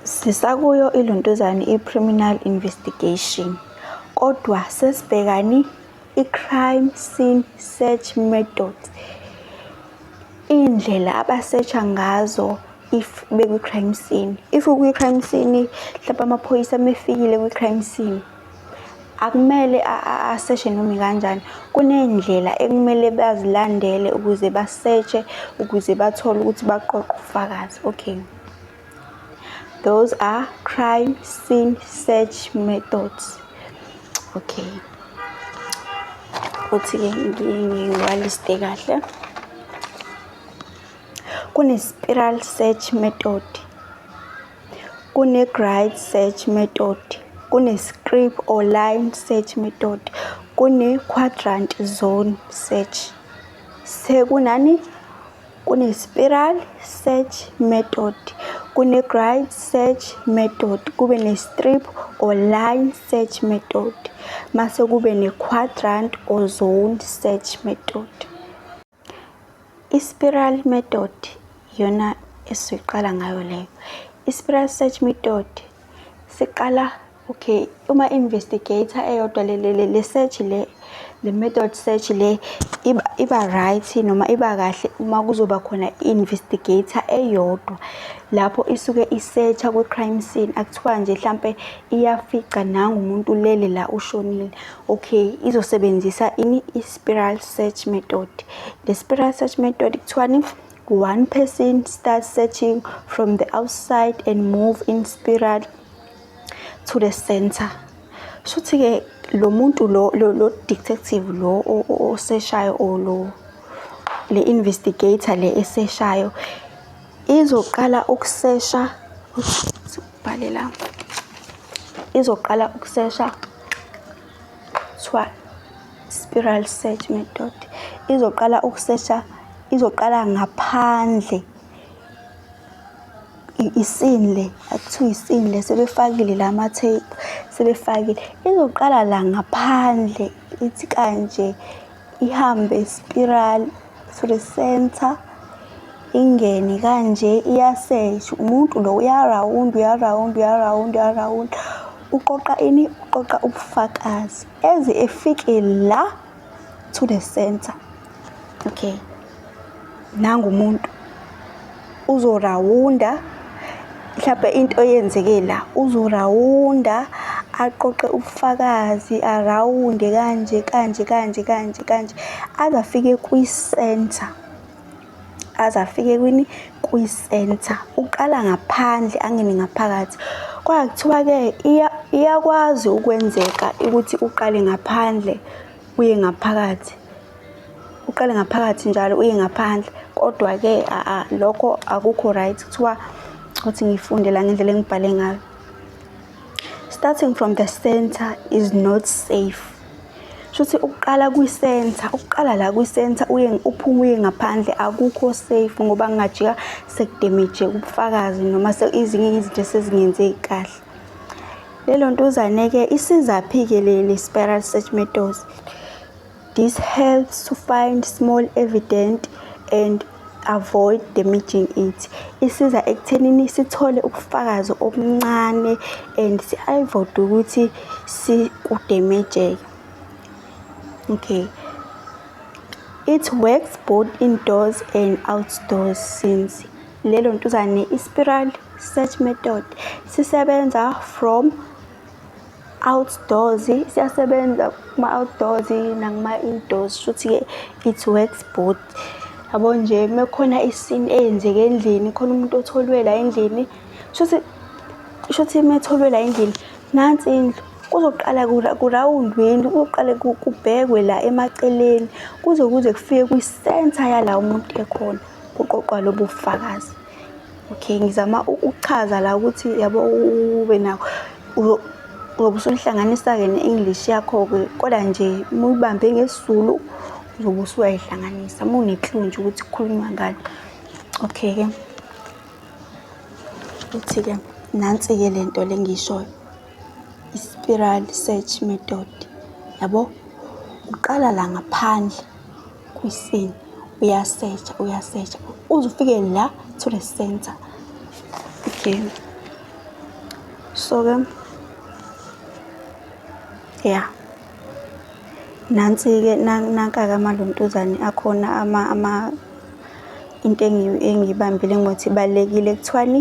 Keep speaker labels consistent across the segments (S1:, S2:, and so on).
S1: Sisakuyo iLuntuzane i-Criminal Investigation kodwa sesibhekani i-Crime Scene Search Method. Iy'ndlela abasetsha ngazo if bekwi-crime scene. If ukwi-crime scene hlampe amaphoyisa mefikile kwi-crime scene. akumele aseshe noma ikanjani kunendlela ekumele bazilandele ukuze basetshe ukuze bathole ukuthi baqoqe ubufakazi okay those are crime scene search methods okay ukuthi-ke ngiwaliste kahle kune-spiral search method Kune-grid search method, kune-strip or line search method, kune-quadrant zone search. Sekunani? Kune-spiral search method, kune-grid search method, kube ne-strip or line search method, mase kube ne-quadrant or zone search method. I-spiral method iyona esiqala ngayo leyo. I-spiral search method siqala okay uma investigator eyodwa le le le search le le method search le iba iba right noma iba kahle uma kuzoba khona investigator eyodwa lapho isuke isearcha kwi crime scene akuthiwa nje mhlambe iyafica nangu umuntu lele la ushonile okay izosebenzisa ini is spiral search method le spiral search method kuthiwani one person starts searching from the outside and move in spiral to the center shuthi-ke lo muntu lo lo detective lo oseshayo or lo le investigator le eseshayo izoqala ukusesha ubhale la izoqala ukusesha kuthiwa spiral search method izoqala ukusesha izoqala ngaphandle isini le akuthiwa isini le sebefakile la matheyipu sebefakile izoqala la ngaphandle ithi kanje ihambe spiral to the center ingene kanje iyasesh umuntu lo uyarawund uyarawund uyarawund uyarawund uqoqa ini uqoqa ubufakazi eze efike la to the center okay nangu umuntu uzorawunda mhlawumbe into eyenzeke la uzorawunda aqoqe ubufakazi arawunde kanje kanje kanje kanje kanje aze afike kwi-center aze afike kwini kwi-center uqala ngaphandle angene ngaphakathi kwakuthiwa-ke iyakwazi ukwenzeka ukuthi uqale ngaphandle uye ngaphakathi uqale ngaphakathi njalo uye ngaphandle kodwa-ke aa lokho akukho right kuthiwa ukuthi ngifunde la ngendlela engibhale ngayo starting from the center is not safe shuthi ukuqala kwi-center ukuqala la kwi-center uye uphume uye ngaphandle akukho safe ngoba ngingajika sekudemije ubufakazi noma ezinye izinto esezingenzeki kahle Lelo ntuzane-ke isizaphi-ke leli spiral search methods. This helps to find small evident and avoid damaging it. Isiza ekuthenini sithole ubufakazi obuncane and si-avoid ukuthi sikudemejeke. Okay. It works both indoors and outdoors since Lelo ntuzane i-spiral search method sisebenza from outdoors siyasebenza kuma-outdoors nakuma-indoors shuthi-ke it works both yabo nje uma kukhona isini eyenzeke endlini khona umuntu otholwela endlini shuthi shuthi uma etholwela endlini nansi indlu kuzoqala kurawundweni kuzoqale kubhekwe la emaceleni kuze kuze kufike kwi-centre yala umuntu ekhona kuqoqwa lobu fakazi okay ngizama ukuchaza la ukuthi yabo ube nawo uzobe usuhlanganisa-ke ne-english yakho-ke kodwa nje uma uyibambe ngesizulu uzobe usuyayihlanganisa uma uneklu nje ukuthi kukhulunywa ngani okay-ke uthi-ke nansi-ke le nto le ngiyishoyo i-spiral search method yabo uqala la ngaphandle kwisini uyasetsha uyasetsha uze ufike la to the center again so ke ya nansi-ke nanka-ke amaluntuzane akhona ama ama into engiyibambile ngokuthi ibalulekile kuthiwani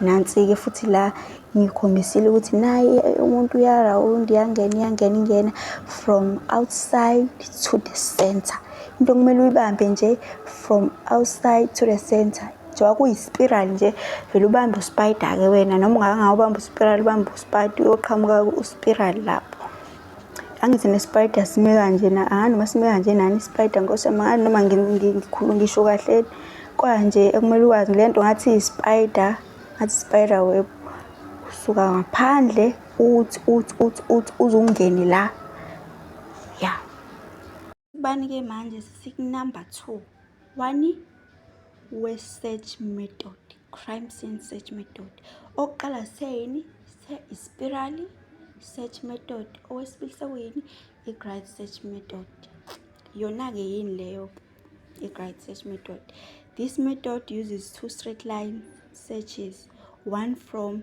S1: Nansi-ke futhi la ngikhombisile ukuthi naye umuntu uyarawundi iyangena iyangena ingena from outside to the center into okumele uyibambe nje from outside to the center njengoba kuyispiral nje vele ubambe uspider-ke wena noma ungakangawubambi uspiral ubambe uspider uyoqhamuka uspiral lapho angithi ne-spider sime kanje na ah noma sime kanje nani i-spider nkosi yami ngani noma ngikhulu ngisho kahle kwanje ekumele ukwazi le nto ngathi i-spider ngathi i-spider web usuka ngaphandle uthi uthi uthi uthi uzungene la ya yeah. Bani ke manje sikunumber 2 wani we-search method crime scene search method okuqala seyini se-ispirali search method owesibili sekuyini i-gride search method yona-ke yini leyo i-gride search method this method uses two straight line searches one from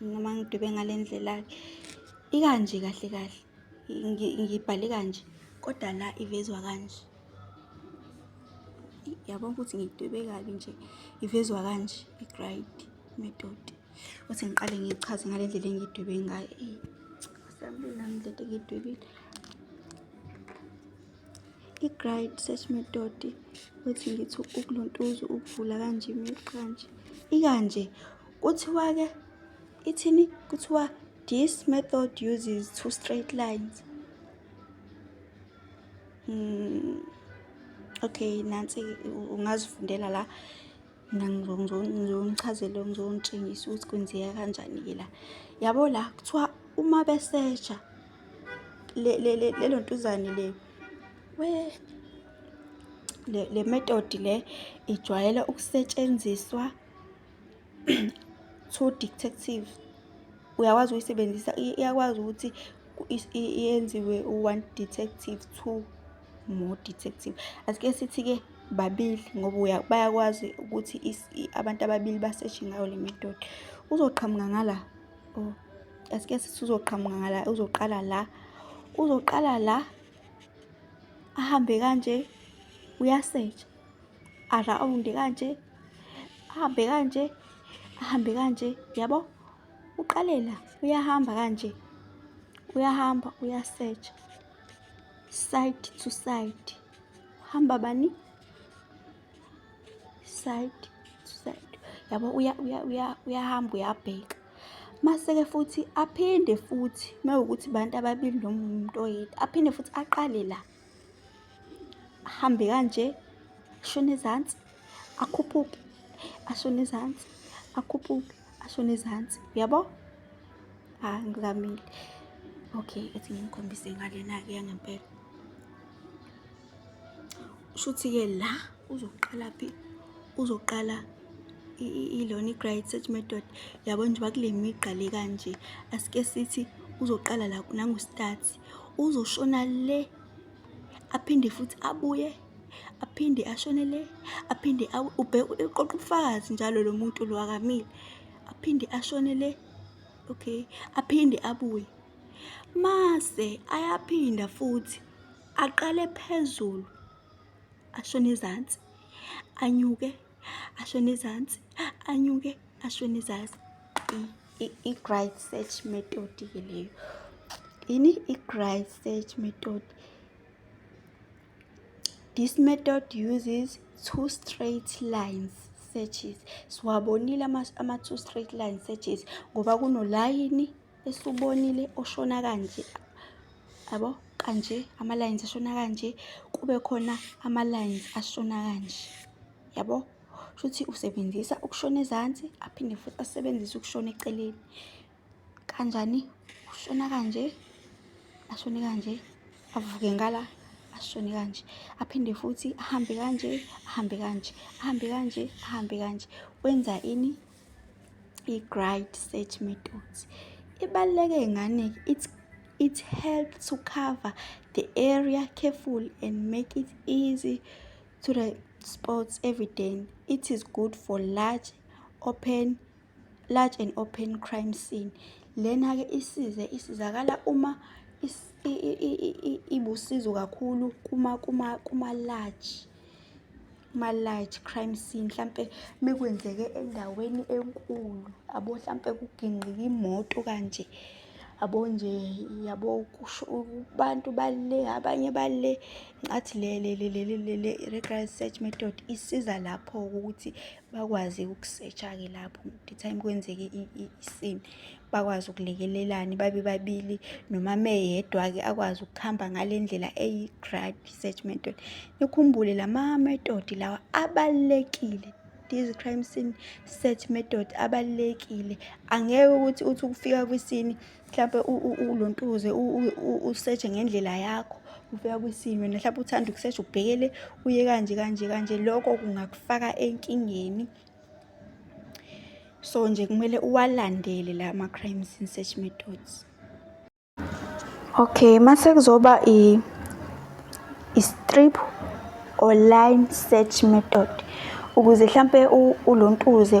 S1: noma ngidwebe ngale ndlela-ke ikanje kahle kahle ngibhale kanje kodwa la ivezwa kanje yabona ukuthi ngidwebe kabi nje ivezwa kanje i-gride method uthi ngiqale ngichaze ngale ndlela engidwebe ngayo eyi asamile nami le nto engidwebile i-gride search method uthi ngithi ukuluntuza ukuvula kanje kanje ikanje Kuthiwa-ke ithini? Kuthiwa this method uses two straight lines. Mm. Okay, nansi ungazifundela la mina ngizonichazela ngizonitshengisa ukuthi kwenzeka kanjani-ke la yabo la kuthiwa uma besesha lelo ntuzane le we le metodi le ijwayele ukusetshenziswa True Detective uyakwazi ukuyisebenzisa iyakwazi ukuthi yenziwe u-one detective two more detective asike sithi-ke babili ngoba bayakwazi ukuthi abantu ababili baseshe ngayo le method uzoqhamuka ngala oh, asike sithi uzoqhamuka ngala uzoqala la uzoqala la ahambe kanje uyasetsha arawundi kanje ahambe kanje ahambe kanje yabo uqalela uyahamba kanje uyahamba uyasearch side to side uhamba bani side to side yabo uya uya uya uyahamba uyabheka maseke futhi aphinde futhi mawukuthi bantu ababili noma umuntu oyedwa aphinde futhi aqale la ahambe kanje ashone ezansi akhuphuke ashone ezansi akhuphuke ashone ezansi uyabo ha ah, ngizamile okay ethi ngimkhombise ngalena-ke yangempela shuthi-ke la uzoqala phi uzoqala ilona i-great search method yabo nje bakule migqa le kanje asike sithi uzoqala la nangu-start uzoshona le aphinde futhi abuye aphinde ashone le aphinde ubheke uqoqa ubufakazi njalo lo muntu lo akamile aphinde ashone le okay aphinde abuye mase ayaphinda futhi aqale phezulu ashone ezantsi anyuke ashone ezantsi anyuke ashone ezantsi I-grind search method ke leyo ini i-grind search method this method uses two straight lines searches siwabonile ama-two straight line searches ngoba kunolayini esubonile oshona kanje yabo kanje ama-lines ashona kanje kube khona ama-lines ashona kanje yabo shuthi usebenzisa ukushona ezansi aphinde futhi asebenzise ukushona eceleni kanjani ushona kanje ashone kanje avuke ngala ashone kanje aphinde futhi ahambe kanje ahambe kanje ahambe kanje ahambe kanje wenza ini i-grind search methods ibaluleke ngane it's it helps to cover the area careful and make it easy to the sports every day. It is good for large open large and open crime scene. Lena ke isize isizakala uma ibusizo kakhulu kuma kuma kuma large kuma large crime scene mhlambe mekwenzeke endaweni enkulu abo mhlambe kugingqika imoto kanje yabo nje yabo kusho abantu bale abanye bale ngathi le le le le le le regular search method isiza lapho ukuthi bakwazi ukusetsha ke lapho the time kwenzeke isini bakwazi ukulekelelana babe babili noma meyedwa ke akwazi ukuhamba ngalendlela eyi grad search method nikhumbule lama method lawa abalekile This crime scene search method abalekile angeke ukuthi uthi ukufika kwisini mhlawumpe ulontuze usearch ngendlela yakho ufika kwisini wena mhlawumpe uthanda ukusearch ubhekele uye kanje kanje kanje lokho kungakufaka enkingeni so nje kumele uwalandele la ma crime scene search methods Okay, mase kuzoba i i-strip or line search method ukuze hlampe ulontuze